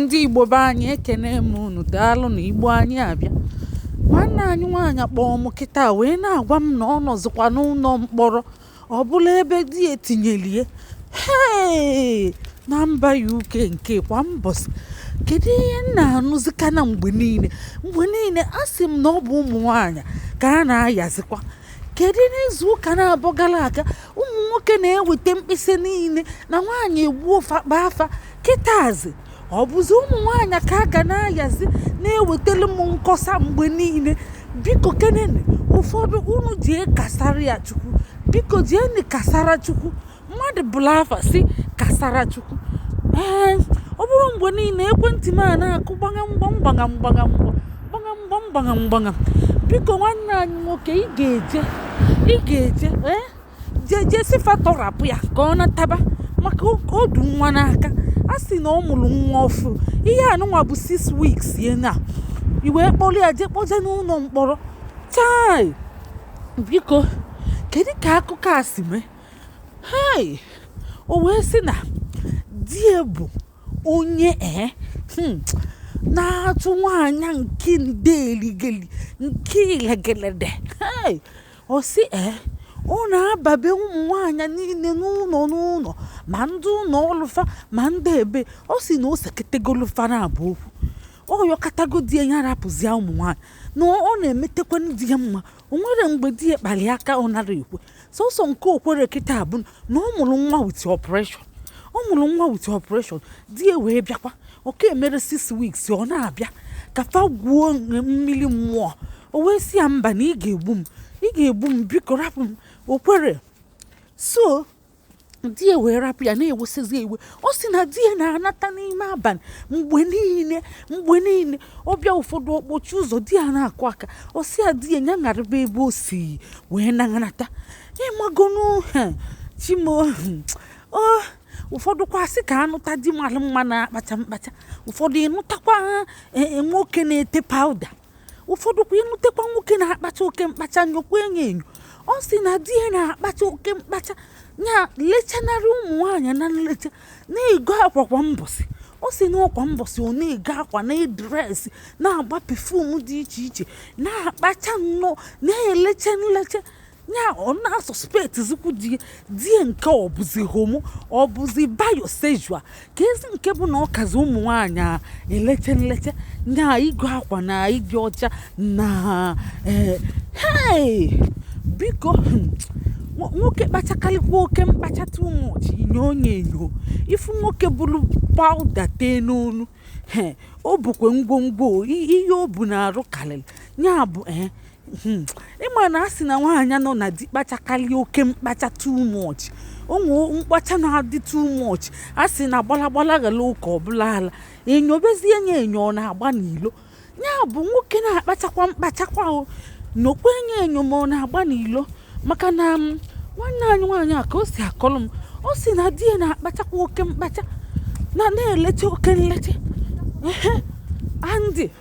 ndị Igbo be anyị ekene m unu daalụ na Igbo anyị abịakwa nwanne anyị nwaanyị kpọọ m kịta wee na-agwa m na ọ nọzikwa n'ụlọ mkpọrọ ọ bụrụ ebe di ya tinyeli ya hee na mba UK nke kwa mbọsị kedu ihe m na-anụzikwa na mgbe niile mgbe niile a sị m na ọ bụ ụmụ nwaanyị ka a na-ayazikwa kedu n'izu ụka naabọ gara aga ụmụ nwoke na-eweta mkpesa niile na nwaanyị egbuo fa kpaa fa kịtazi ọ bụzi ụmụ nwaanyị ka a ga na-ayazi na-ewetara m nkọsa mgbe niile biko kenene ụfọdụ unu jee kasara ya chukwu biko jeeni kasara chukwu mmadụ buru afa sị Kasarachukwu ee ọ bụrụ mgbe niile ekwentị m a na-akụ gbagam gbam gbagam gbagam gbagam gbam gbagam gbagam biko nwanne anyị nwoke ị ga-eje ị ga-eje ee jee jee sị fa tọrapụ ya ka ọ nataba maka o du nwa n'aka a sị na ọ mụrụ nwa ọfụụ ihe a nụnwa bụ 6 weeks ya na e wee kpọrọ ya jee kpọje n'ụlọ mkpọrọ chai biko kedu ka akụkọ a si mee Hei! O wee sị na di ya bụ onye ee eh, hmm, na-achụ nwaanyị nke nde eligeli nke ilegelede hei ọ sị ee eh, ọ na-ababe ụmụ nwaanyị niile n'ụlọ n'ụlọ ma ndị ụlọ ọlụ fa ma ndị ebe ọ sị na o seketegolu fa naabọ okwu ọ yọkatago di ya ya rapụzie ụmụ nwaanyị na ọ na-emetekwa di ya mma o nwero mgbe di ya kpali ya aka ọ narọ ekwe Sọsọ nke o kwero kịta bụ na ọ mụrụ nwa with operation. Ọ mụrụ nwa with operation, di ya wee bịakwa. Ọ ka emero six weeks, ọ na-abịa ka fa gwuo mmiri mmụọ. O wee sị ya, "Mba na ị ga-egbu m, ị ga-egbu m, biko rapụ m." O kwero. So, di ya wee rapụ ya na-ewesịzi iwe ọ sị na di ya na-anata n'ime abalị mgbe niile mgbe niile ọ bịa ụfọdụ ọ kpọchie ụzọ di ya na-akụ aka ọ sị ya di ya ya narịba ebe o si wee na-anata ị magonu chi m o ụfọdụ kwa sị ka a nụta di mara mma na-akpacha mkpacha ụfọdụ ị nụtakwa e, e, nwoke na-ete powder ụfọdụ kwa ị nụtakwa nwoke na-akpacha oke mkpacha nyokwa enyo enyo ọ sị na di ya na-akpacha oke mkpacha ya lechanarị ụmụ nwaanyị na nlecha na-ego akwa kwa mbọsị ọ sị na ọ kwa mbọsị ọ na-ego akwa na-edress na-agba perfume dị iche iche na-akpacha nnọọ na-elecha nlecha ya ọ na-asọspetizikwu di ya nke ọ bụzi homo ọ bụzi biosexual kezi nke bụ na ọ kazi ụmụ nwaanyị eleche nleche ya ịgọ akwa na ịdị ọcha na ee hei biko hmm, nwo- nwoke kpachakarịkwa oke mkpacha too much i nyo nye enyo ị fụ nwoke buru pawuda tee n'onu he o bukwa ngwongwo i- ihe o bu n'arụ karịrị ya bụ ee Hmm. ịma na a sị na nwaanyị nọ na di kpachakarị oke mkpacha too much o nwe mkpacha na-adị too much a sị na gbalagbala ghara oke ọ bụlụ ala e nyobezie nye enyo ọ na-agba n'ilo ya bụ nwoke na-akpachakwa mkpachakwa o nyokwa nye enyo ma ọ na-agba n'ilo maka na um, nwanne anyị nwaanyị a ka o si akọrọ m ọ sị na di ya na-akpachakwa oke mkpacha na na-elecha oke nlecha ehe andị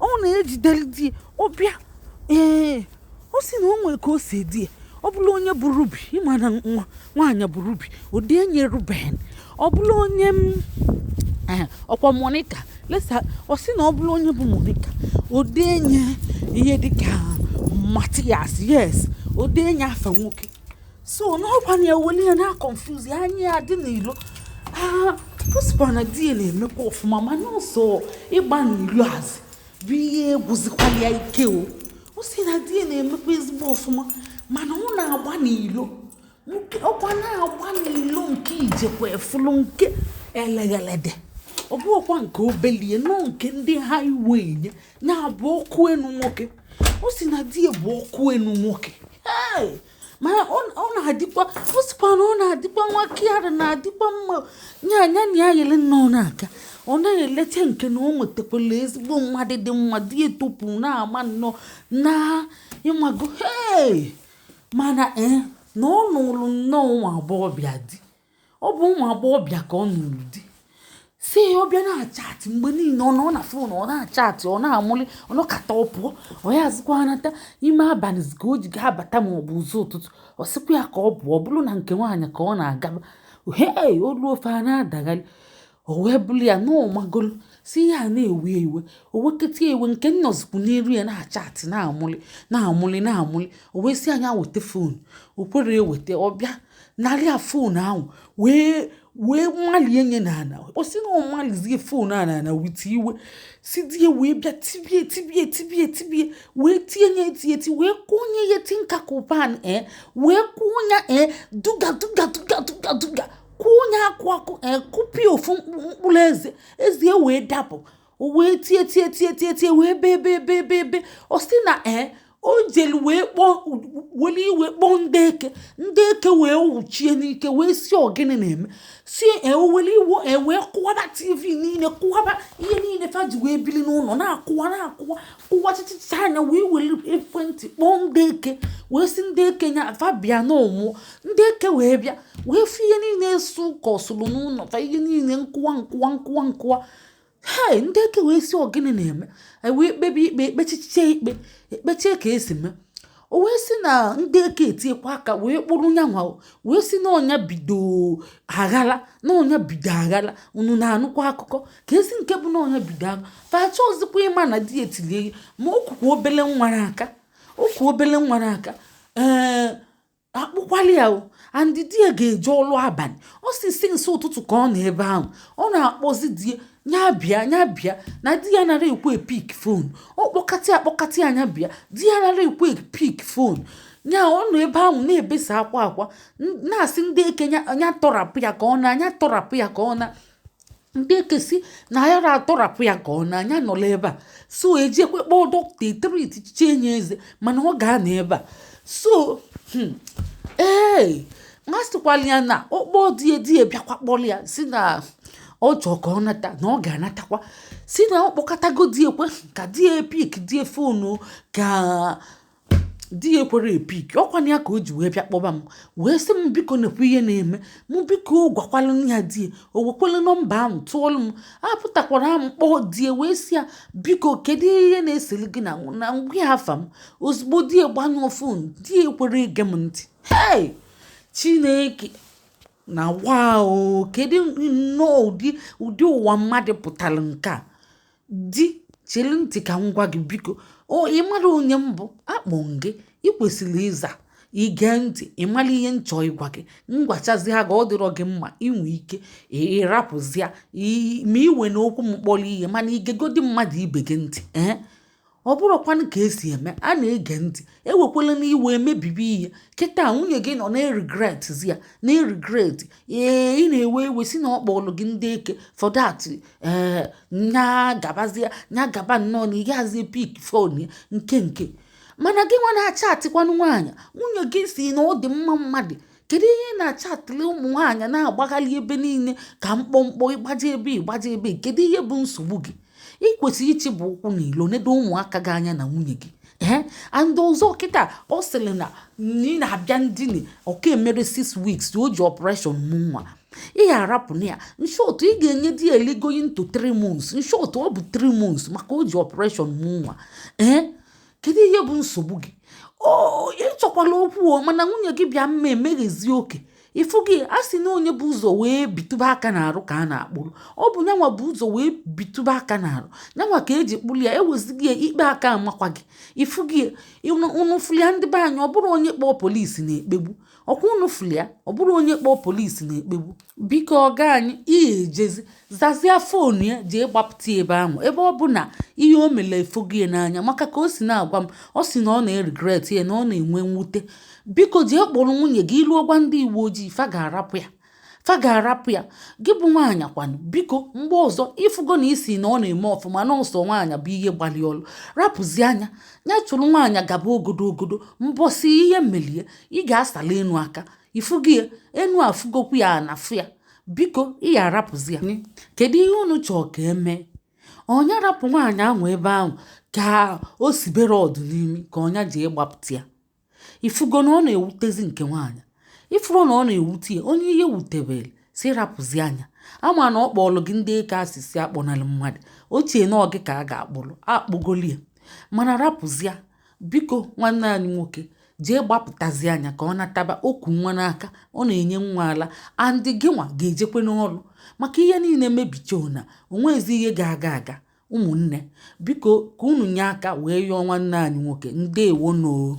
ọ na-ejideli di ọbịa ee ọ sị na o nwere ka o si ede ya ọ bụlụ onye bụ Ruby ịma na nwa nwaanyị bụ Ruby o denye Ruben ọ bụlụ onye m ee, ọkwa Monica let's say ọ sị na ọ bụlụ onye bụ Monica o denye ihe dịka Matthias yes o denye afa nwoke so na ọ kwa na-eweli ya na confuse ya anya ya dị n'ilo Prosper na di ya na-emekwa ọfụma mana sọ ịgba n'ilo a zi bụ ihe gwụzikwala ya ike o ọ sị na di ya na-emekwa ezigbo ọfụma mana ọ na-agba n'ilo nke ọkwa na-agba n'ilo nke ijekwa efulu nke eleghelede ọ bụ ọkwa nke obelie nọ nke ndị highway nye na-abụ ọkụ enu nwoke ọ sị na di ya bụ ọkụ enu nwoke Hey! mana ọ na-adịkwa ọ sịkwa na ọ na-adịkwa nwa caring na-adịkwa mma ya nya na ya yele nnọọ na-aga ọ na-eleta nke na o nwetakwala ezigbo mmadụ dị mma dị etopụ n'ama nnọọ na ịmago ee mana ee na ọ nụrụ nnọọ ụmụ agbọghọbịa di ọ bụ ụmụ agbọghọbịa ka ọ nụrụ di sị ya ọ bịa na-achatị mgbe niile ọ nọ na fon ọ na-achatị ọ na-amụli ọ nọkata ọ pụọ ọ yazikwa anata ime abalị ka o ji ga-abata ma ọ bụ ụzọ ụtụtụ ọ sịkwa ya ka ọ pụọ ọ bụrụ na nke nwaanyị ka ọ na-agaba he o luo fa a na-adagharị o wee bụrụ ya na ọ magolu si ya na-ewe iwe o weketa iwe nke ọ nọzikwu n'iru ya na-achatị na-amụlị na-amụlị na-amụlị o wee sị nya weta fon o kwerọ eweta ọ bịa nara ya fon ahụ wee wee malie nye n'ana ọ sị na ọ malizie fon a n'ana wite iwe si di ya wee bịa tibie tibie tibie tibie wee tie nye etieti wee kụnye ya tinka kụ pan e wee kụnye e duga duga duga duga duga kụọ ya akụ akụ akụpịa eh, ofu mkpụrụ eze eze ya wee dapụ o wee tie tie tie tie tie wee bee bee bee bee bee ọ sị na ee eh, o jelu wee kpọọ weli iwe kpọọ ndị eke ndị eke wee wuchie n'ike wee sị ọ gịnị na-eme si eh, eweli iwe wee kụwaba tv niile kụwaba ihe niile fa ji wee bili n'ụlọ na-akụwa na-akụwa ụwachịchịcha nya wee weli ekwentị kpọọ ndị eke wee sị ndị eke nya fa bịa na ọ nwụọ ndị eke wee bịa wee fụ ihe niile esu ụka ọ sụrụ n'ụlọ fa ihe niile nkụwa nkụwa nkụwa nkụwa hei ndị eke wee sị ọ gịnị na-eme e wee kpebe ikpe ekpechiche ikpe ekpechie ka e si mee o wee sị na ndị eke etiekwa aka wee kpụrụ nyanwa wee sị na ọ nya bido aghara na ọ nya bido aghara unu na-anụkwa akụkọ ka e si nke bụ na ọ nya bido aghara fa achọghịzikwa ịma na di ya tilie ya ma o kukwa obele nwa n'aka o ku obele nwa n'aka ee a kpụkwalụ ya o and di ya ga-eje ọlụ abalị ọ sị since ụtụtụ ka ọ nọ ebe ahụ ọ na-akpọzi di ya nya bịa nya bịa na di ya anara ekwe pick phone ọ kpọkata ya kpọkata ya nya bịa di ya anara ekwe pick phone ya ọ nọ ebe ahụ na-ebesa akwa akwa na-asị ndị eke nya tọrapụ ya ka ọ naa nya tọrapụ ya ka ọ naa ndị eke sị na a yara atọrapụ ya ka ọ naa nya nọlọ ebe a so e jekwe kpọọ dọkịta etreatchiche nya eze mana ọ ga-anọ ebe a so hmm, ee ma sịkwala ya na ọ kpọọ di ya di ya bịakwa kpọrọ ya sị na ọ chọọ ka ọ nata na ọ ga-anatakwa sị na ọ kpọkatago di ya kwa ka di ya pick the phone ka di ya ekwere epick ọ kwa nya ka o ji wee bịa kpọba m wee sị m biko nekwa ihe na-eme mụ biko gwakwalụ ya di ya o wekwele nọmba ahụ tụọlụ m apụtakwara m kpọọ di ya wee sị ya biko kedu ihe na-eseli gị na m gwa ya afa m ozugbo di ya gbanyụọ phone di ya ekwere ege m ntị hei chineke na wa o kedu nnọọ ụdị ụdị ụwa mmadụ pụtara nke a di chiri ntị ka m gwa gị biko o ị mara onye m bụ a kpọọ gị ị kwesịrị ịza ige ntị ịmara ihe m chọọ ịgwa gị m gwachazia gị ọ dịrọ gị mma i nwe ike ịrapụzia ma ị wena okwu m kpọrọ ihe mana i gegodi mmadụ ibe gị ntị ee ọ bụrụkwanụ ka e si eme a na-ege ntị ewekwalanụ iwe emebibi ihe kịta nwunye gị nọ na-eregret ya na-eregret ee ị na-ewe iwe sị na ọ kpọrọ gị ndị eke for that ee nya gabazia nya gaba nnọọ na ị yarazi pick phone ya nke nke mana gị nwa na-achatịkwanụ nwaanyị nwunye gị sị na ọ dị mma mmadụ kedu ihe ị na-achatịrị ụmụ nwaanyị na-agbagharị ebe niile ka mkpọmkpọ ị gbaje ebe ị gbaje ebe kedu ihe bụ nsogbu gị ị kwesịrị ịchịpụ ụkwụ n'ilo nedo ụmụaka gị anya na nwunye gị ee and ọzọ kịta ọ sịrị na ị na-abịa ndina ọ ka emere six weeks o ji operation mụ nwa ị ga-arapụ na ya in short ị ga-enyedị ya like going to 3 months in short ọ bụ 3 months maka o ji operation mụ nwa ee kedu ihe bụ nsogbu gị o ị chọkwala okwu o mana nwunye gị bịa mma emeghezi oke ị fụgo ya a sị na onye bu ụzọ wee bitụba aka n'arụ ka a na-akpụrụ ọ bụ nyanwa bu ụzọ wee bitụba aka n'arụ nyanwa ka e ji kpụrụ ya ewezuga ya ikpe aka-amakwa gị ị fụgo ya unu fụlụ ya ndị be anyị ọ bụrọ onye kpọọ polisi na-ekpegbu ọkwa unu fụrụ ya ọ bụrọ onye kpọọ polisi na-ekpegbu biko ọga anyị ị ya-ejezi zazia foonu ya jee gbapụta ya ebe ahụ ebe ọ bụ na ihe o mere efogo ya n'anya maka ka o si na-agwa m ọ si na ọ na-eregret ya na ọ na-enwe mwute biko jee kpọrọ nwunye gị i ruo gwa ndị uwe ojii fa ga-arapụ ya fa ga-arapụ ya gị bụ nwaanyị kwanụ biko mgbe ọzọ ị fụgo na isi na ọ na-eme ọfụma na ọsọ nwaanyị bụ ihe gbalị ọlụ rapụzia nya ya chụrụ nwaanyị gaba ogodo ogodo mbọsị ihe melụ ya ị ga-asala enu aka ị fụgo ya enu afụgokwu ya ana fụ ya biko ị ya-arapụzi ya kedu ihe unu chọọ ka e mee ọ nya rapụ nwaanyị ahụ ebe ahụ ka o sibere ọdụ n'imi ka ọ nya jee gbapụta ya ị fụgo na ọ na-ewutezi nke nwaanyị ị fụgo na ọ na-ewute ya onye ihe wutebere sị rapụzia nya a ma na ọ kpọọlụ gị ndị eke a sị sị akpọnalụ mmadụ o chee na ọ gị ka a ga-akpụrụ a kpụgolu ya mana rapụzia biko nwanne anyị nwoke jee gbapụtazia nya ka ọ nataba o ku nwa n'aka ọ na-enye nwa ala and gị nwa ga-ejekwe n'ọrụ maka ihe niile mebichana o nwezi ihe ga-aga aga ụmụnne biko ka unu nye aka wee yọọ nwanne anyị nwoke ndeewonụ o